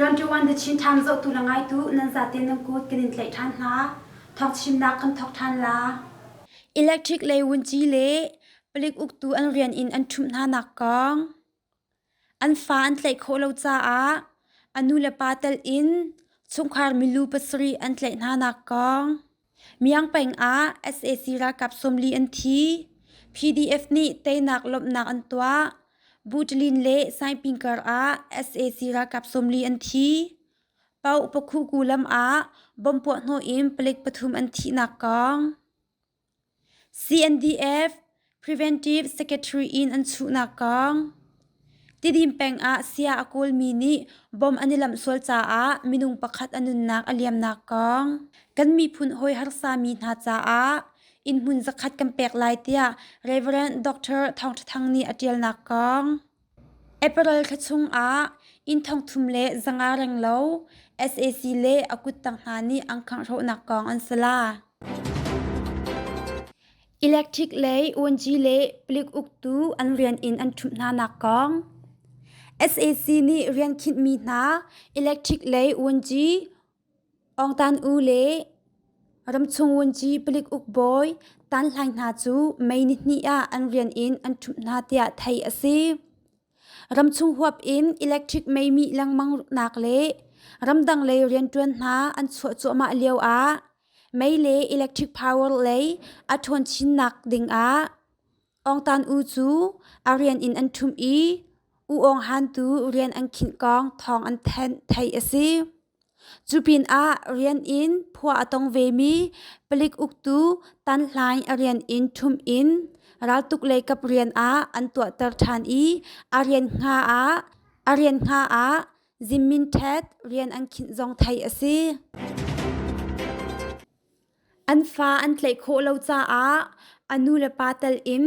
Twenty-one the Chin Time zohtu la ngaitu nan zate nan kut kan in tlaih ṭhan hna. Thawk chimnak kan thawk ṭhan la. Electric le wunci le Palik uktu an rian in an ṭhumh hnanak kong an fa an tlaih khawh lo caah a nu le pa telh in chungkhar milu pasarih an tlaih hnanak kong Miang peng ah sac ralkap sawmli an thi PDF nih teinak lawmhnak an tuah Butlin le Saiping kar ah sac ralkap sawmli an thi Pau Pakhuku lam ah bomb puahhnawh in palik pathum an thihnak kong CNDF Preventive Secretary in an chuhnak kong Tidim peng ah saya a kawlmi nih bom an i lamh sual caah minung pakhat a nunnak a liamnak kong kan miphun hawi harsami hna caah innhmun zakhat kan pek lai tiah Rev Dr. Thawng Ṭha Thang nih a ṭialnak kong April thla chungah inn thongthum le zanga renglo sac le a kuttang hna nih an khanghrawhnak kong an si la. Electric lei uanji le palik uktu an rian in an ṭhumh hnanak kong. sac nih rian khinhmi hna electric lei uanji Ongtan u le ramchung wunci palik ukbawi tanhlai hna cu mei nihnih ah an rian in an ṭhumh hna tiah theih a si. Ramchung huap in electric mei mih lengmangnak le ramdang lei rianṭuan hna an chuah cuahmah lio ah mei le electric power lei a ṭhawn chinnak ding ah Ongtan U cu a rian in an ṭhum i U Ong Han tu rian an khinh kong thawng an thanh theih a si. Cu pinah rian in phua a tong vemi palik uktu Tan Hlaing a rian in ṭhum in raltuk leikap rian ah an tuahter ṭhan i a rian hna ah a rian hna ah Zin Min Htet rian an khinh zong theih a si. An fa an tlaih khawh lo caah a nulepa telin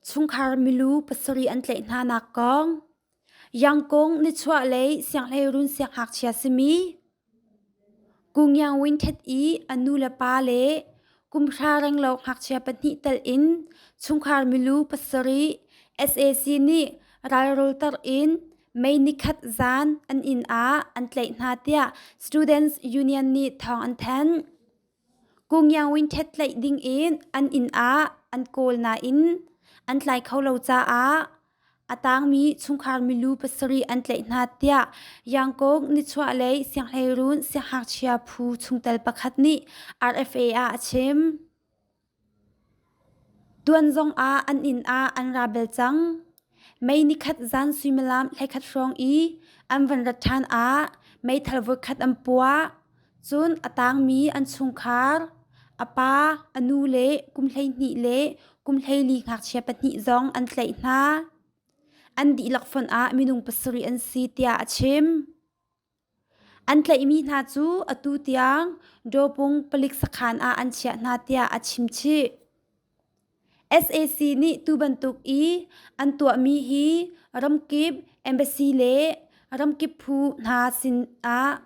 chungkhar milu pasarih an tlaih hnanak kong. Yangkung nichuah lei sianghleirun sianghngakchia simi Kungyang Winthet i a nulepa le kumhra renglo ngakchia pahnih telin chungkhar milu pasarih sac nih ralrawlter in May nikhat zan an inn ah an tlaih hna tiah Students Union nih thawng an thanh. Kungyaung ṭhet tlaih dingin an inn ah an kawl nain an tlai kho lo caah a tangmi chungkhar milu pasarih an tlaih hna tiah Yangkok nichuahlei sianghleiruun sianghngakchia phu chungtel pakhat nih RFA ah a chim. Tuan zong ah an inn ah an ra bel cang. Mei nikhat zan suimilam hleikhat hrawng i an van rat ṭhan ah meithal voikhat an puah. Cun a tangmi an chungkhar, a pa, a nu le kum hleihnih le kum hleili ngakchia pahnih zong an tlaih hna. An dihlak fonh ah minung pasarih an si tiah a chim. An tlaihmi hna cu atu tiang Dawpung palik sakhan ah an chiah hna tiah a chimchih. SAC nih tubantuk i an tuahmi hi ramkip embassy le ramkip phu hna sinah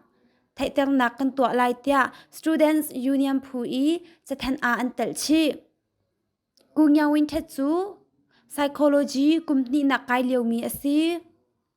theihternak kan tuah lai tiah Students Union phu i cathanh ah an telh chih. Gu Nyaw Win Htet cu psychology kum hnihnak kai liomi a si.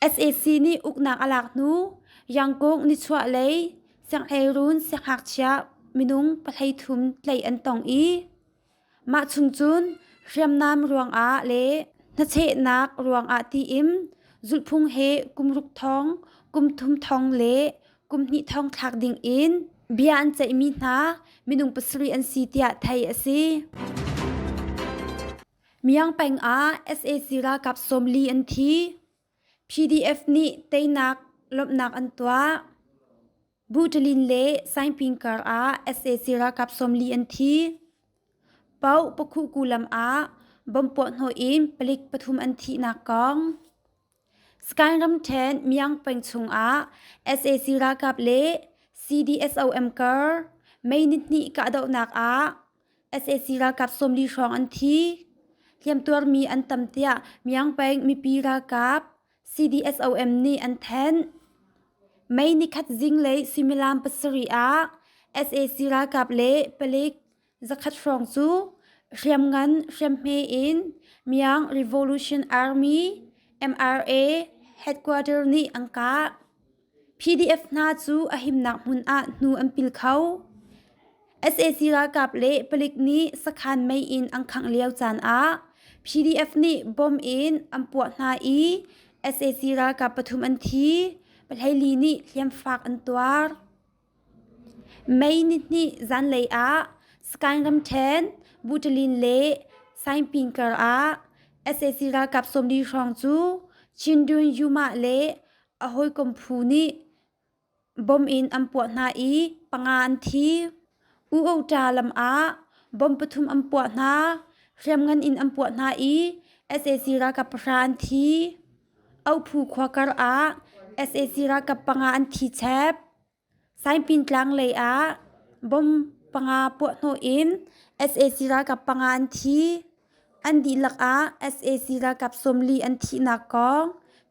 sac nih uknak a lak hnu yangkung nichuahlei sianghleirun sianghngakchia minung pahlei thum tleih an tong i mah chung cun hriamnam ruangah le hnachehnak ruangah tiin zulhphung he kum ruk thong kum thum thong le kum hnih thong thlak dingin bia an ceihmi hna minung pasarih an si tiah theih a si. Miang peng ah sac ralkap sawmli an thi, PDF nih teinak lawmhnak an tuah, Buṭalin le Saingping kar ah sac ralkap sawmli an thi, Pau Pakhuku lam ah bomb puahhnawh in palik pathum an thihnak kong. Sakaing ramṭhen Myangpeng chungah sac ralkap le CDSOM kar May nihnih kahdohnak ah sac ralkap sawmli hrawng an thi. Hliamtuarmi an tam tiah Myangpeng mipi ralkap CDSOM nih an thanh. May nikhat zinglei suimilam pasarih ah sac ralkap le palik Zakhat hrawng cu hriamngan hriamhme in Myanmar Revolution Army MRA headquarters nih an kah. PDF hna cu a himnak hmun ah hnu an pil kho. sac ralkap le palik nih sakhan mei in an khangh lio caan ah PDF nih bom in an puah hna i sac ralkap pathum an thi. Pahleili nih hliamfak an tuar. May nihnih zanlei ah Sagaing ramṭhen Butalin le Saingpin karah sac ralkap sawmli hrawng cu Chindun Yuma le a hawikom phu nih bom in an puah hna i panga an thi. U-Ohta lam ah bom pathum an puah hna, hriamngan in an puah hna i sac ralkap pahra an thi. Ohu khua karah sac ralkap panga an thi chep. Saipintlang lei ah bomb panga puahhnawh in sac ralkap panga an thi. An dihlak ah sac ralkap sawmli an thihnak kong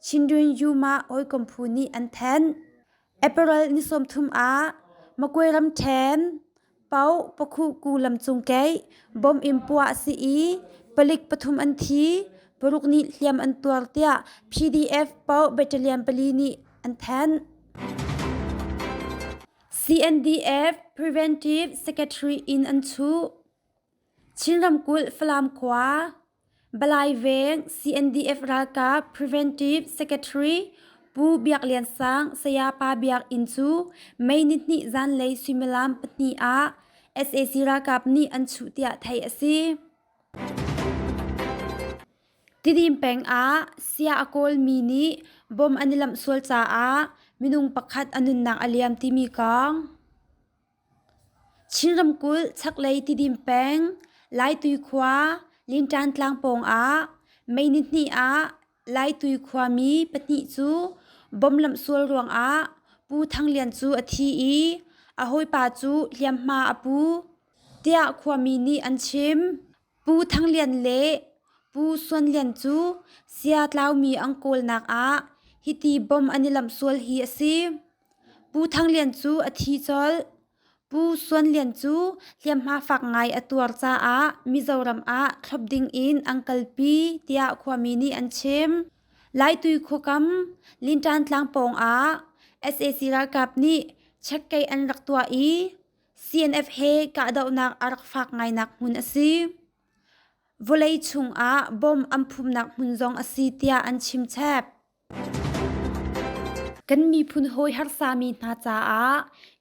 Chindwin Yuma hawikom phu nih an thanh. Apparel ni sawmthum ah makwe ram ṭhen, pau pakhu ku lam cung keih, bom in puah a si i palik pathum an thi, paruk nih hliam an tuar tiah PDF pau battalion pali nih an thanh. CNDF Preventive Secretary in an chuh. Chin ramkulh Falam khua Balai Veng CNDF ralkap Preventive Secretary Pu Biak Lian Sang Sayapa Biak Inn cu May ni hnih zanlei suimilam pahnih ah sac ralkap nih an chuh tiah theih a si. Tidim peng ah sia a kawlmi nih bom an i lamh sual caah minung pakhat a nunnak a liam timi kong. Chin ramkulh chaklei Tidim peng Laitui khua Linṭan tlang pawngah May ni hnih ah Laitui khuami pahnih cu bom lamhsual ruangah Pu Thang Lian cu a thi i a hawipa cu hliamhma a pu, tiah khuami nih an chim. Pu Thang Lian le Pu Suan Lian cu Siatlaumi ang kawlnak ah hiti bom an i lamh sual hi a si. Pu Thang Lian cu a thi colh. Pu Suan Lian cu hliamhma fak ngai a tuar caah Mizoram ah thlop ding in an kalpi tiah khuami nih an chim. Laitui khuakam Linṭan tlang pawng ah sac ralkap nih checkei an rak tuah i CNF he kahdohnak a rak fak ngainak hmun a si. Vawlei chungah bom an phumnak hmun zong a si tiah an chimchep. Kan miphun hawi harsami hna caah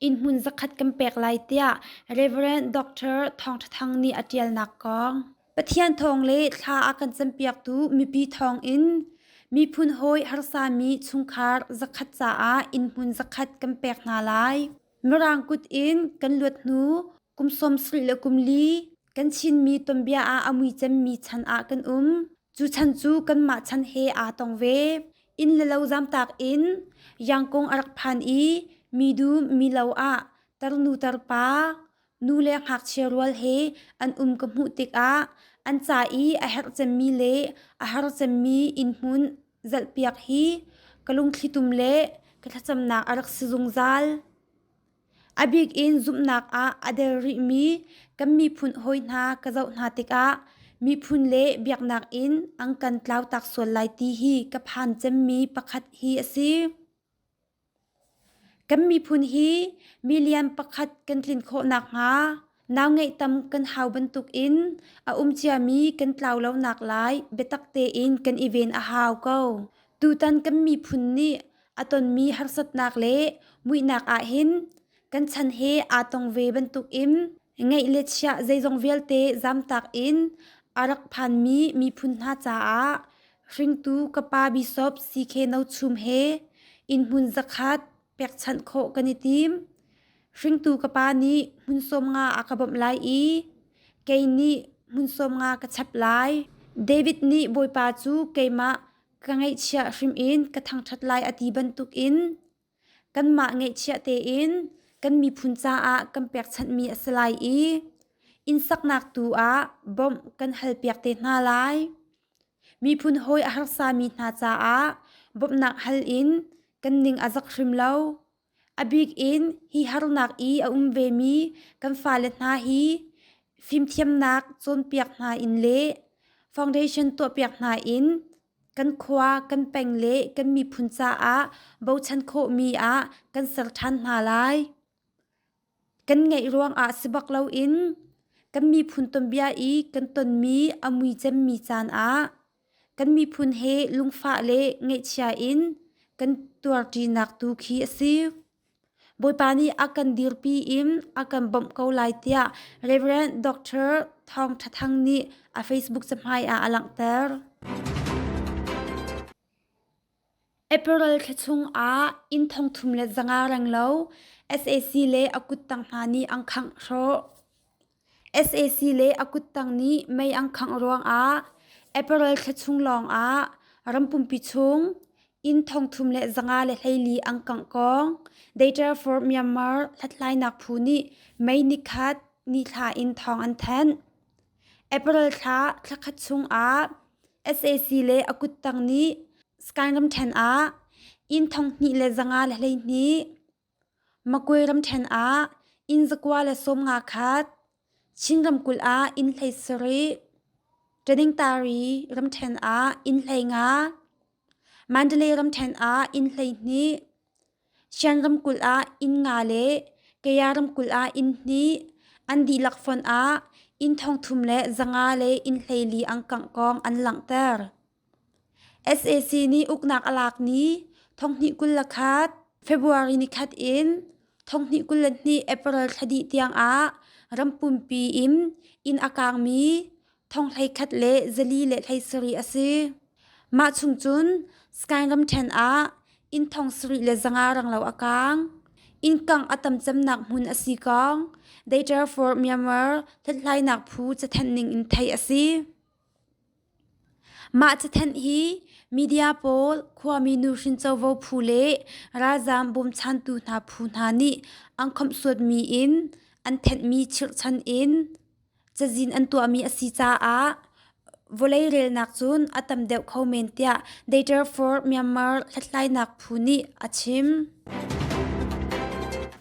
inn hmun zakhat kan pek lai tiah Reverend Dr. Thawng Ṭha Thang nih a ṭialnak kong. Pathian thawng le thla a kan campiaktu mipi thawng in miphun hawi harsami chungkhar zakhat caah inn hmun zakhat kan pek hna lai. Mirang kut in kan luat hnu kum sawm sarih le kum li kan Chinmi tonbia ah a mui cemmi chan ah kan um. Cu chan cu kanmah chan he aa tong ve. Inn le lo zamtak in yangkung a rak phan i midu milo ah tarnu tarpa Nu le ngakchia rual he an um ka hmuh tikah an ca i a herh cemmi le a har cemmi innhmun zelhpiak hi ka lungthlitum le ka thlacamnak a rak si zungzal. A bik in zumhnak ah a der rihmi kan miphun hawi hna ka zoh hna tikah miphun le biaknak in an kan tlautak sual lai ti hi ka phan cemmi pakhat hi a si. Kan miphun hi mi lian pakhat kan tlin khawh nakhnga nau ngeihtam kan hau bantuk in a um ciami kan tlau lonak lai biatak tein kan i ven a hau ko. Tutan kan miphun nih a tonmi harsatnak le muihnak ahhin Kan chan he aa tong ve bantukin ngeih le chiah zeizong vialte zamtak in a rak phanmi miphun hna caah hringtu ka pa bishop CK No Chum he innhmun zakhat pekchanh khawh kan i tim. Hringtu ka pa nih hmun sawm nga a ka bawmh lai i kei nih hmun sawm nga ka chap lai. David nih Bawipa cu keimah ka ngaihchiah hrim in ka thangṭhat lai a ti bantukin Kanmah ngeihchiah tein kan miphun caah kan pekchanhmi a si lai i innsaknak tu ah bawmh kan halpiak te hna lai. Miphun hawi a harsami hna caah bawmhnak hal in kan ning a zak hrim lo. A bik in hi harnak i a um vemi kan fale hna hi fimthiamnak cawnpiak hna in le foundation tuahpiak hna in Kan khua, kan peng le kan miphun caah bochan khawhmi ah kan ser ṭhan hna lai. Kan ngeih ruangah si bak loin kan miphun tuanbia i kan tonmi a mui cemmi caan ah kan miphun he lungfah le ngaihchia in kan tuarṭinak tu khi a si. Bawipa nih a kan dirpi in a kan bawmh ko lai tiah Reverend Dr. Thawng Ṭha Thang nih a Facebook cahmai ah a langhter. April thla chung ah inn thong thum le zanga reng lo SAC le a kuttang hna nih an khangh hrawh. sac le a kuttang nih mei an khangh ruangah april thla chung lawngah rampumpi chung inn thongthum le zanga le hleili an kangkong deiterfur myanmar hlathlainak phu nih mei nikhat nithla in thawng an thanh april thla thlakhat chungah sac le a kuttang nih skangram ṭhen ah inn thonghnih le zanga le hleihnih Makwe ramṭhen ah inn zakua le sawmnga khat, Chin ramkulh ah inn hlei sarih, Ṭeningtari ramṭhen ah inn hlei nga, Mandalay ramṭhen ah inn hlei hnih, Shan ramkulh ah inn nga le Kaya ramkulh ah inn hnih, an dihlak fonh ah inn thong thum le zanga le inn hlei li angkang kong an langhter. sac nih uknak a lak ni thonghnih kul le khat february ni khat in thonghnih kul le hnih april thla dih tiangah rampumpi in inn a kaangmi thonghlei khat le zali le hlei sarih a si mah chung cun skyram ṭhen ah inn thong sarih le zanga ranglo a kaang innkangh a tam cemnak hmun a si kong they therefore myanmar hlathlainak phu cathenhning in theih a si Mah cathanh hi media pawl, khuami nuhrin covo phu le ralzaam bawmchantu hna phu hna nih an khawmhsuatmi in an thenhmi chirhchan in cazin an tuahmi a si caah vawlei relnak cun a tam deuh kho men tiah Data for Myanmar hlathlainak phu nih a chim.